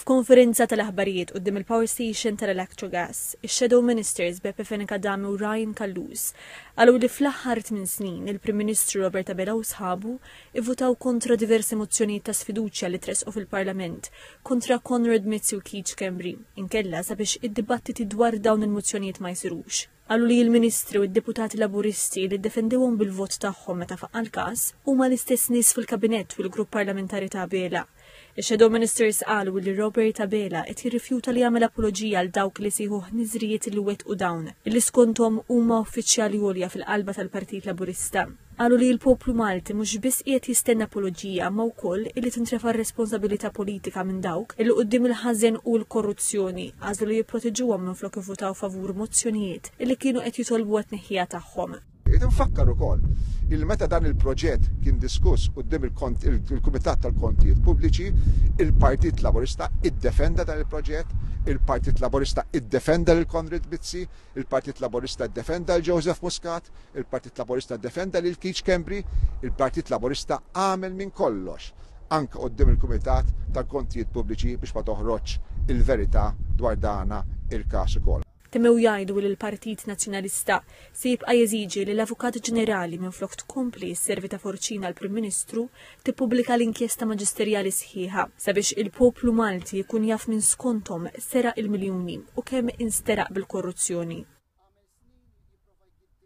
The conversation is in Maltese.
F'konferenza tal-aħbarijiet quddiem il-Power Station tal-Electrogas, ix-Shadow Ministers Beppe Fenech Adami u Ryan Callus qalu li fl-aħħar tmien snin il-Prim Ministru Robert Abela u sħabu ivvutaw kontra diversi mozzjonijiet ta' sfiduċja li tressqu fil-Parlament kontra Konrad Mizzi u Keith Schembri inkella sabiex id-dibattiti dwar dawn il-mozzjonijiet ma jsirux. Qalu li l-Ministri u d-Deputati Laburisti li ddefendewhom bil-vot tagħhom meta faqqa' l-każ huma l-istess nies fil-Kabinett u l-Grupp Parlamentari ta' Abela. Ix-Shadow Ministers qalu li Robert Abela qed jirrifjuta li jagħmel apoloġija għal dawk li jsejħu ħniżrijiet li wettqu dawn, li skonthom huma uffiċjali għolja fil-qalba tal-Partit Laburista. Qalu li l-poplu Malti mhux biss qiegħed jistenna apoloġija imma wkoll illi tintrefa' r-responsabilità politika minn dawk illi quddiem il-ħażen u l-korruzzjoni għażlu li jipproteġuhom minflok ivvutaw favur mozzjonijiet illi kienu qed jitolbu għat-tneħħija tagħhom. Irrid infakkar ukoll illi meta dan il-proġett kien diskuss quddiem il-Kumitat tal-Kontijiet Pubbliċi, il-Partit Laburista iddefenda dan il-proġett, il-Partit Laburista iddefenda lil Konrad Mizzi, Il-Partit Laburista ddefenda 'l Joseph Muscat, il-Partit Laburista ddefenda lil Keith Schembri, il-Partit Laburista għamel minn kollox, anke quddiem il-Kumitat tal-Kontijiet Pubbliċi biex ma toħroġx il-verità dwar dana il-każ ukoll. Temmew jgħidu li l-Partit Nazzjonalista se jibqa' jeżiġi li l-Avukat Ġenerali minflok tkompli sservi ta' forċina għall-Prim Ministru tippubblika l-inkjesta maġisterjali sħiħa sabiex il-poplu Malti jkun jaf min skonthom seraq il-miljuni u kemm insteraq bil-korruzzjoni.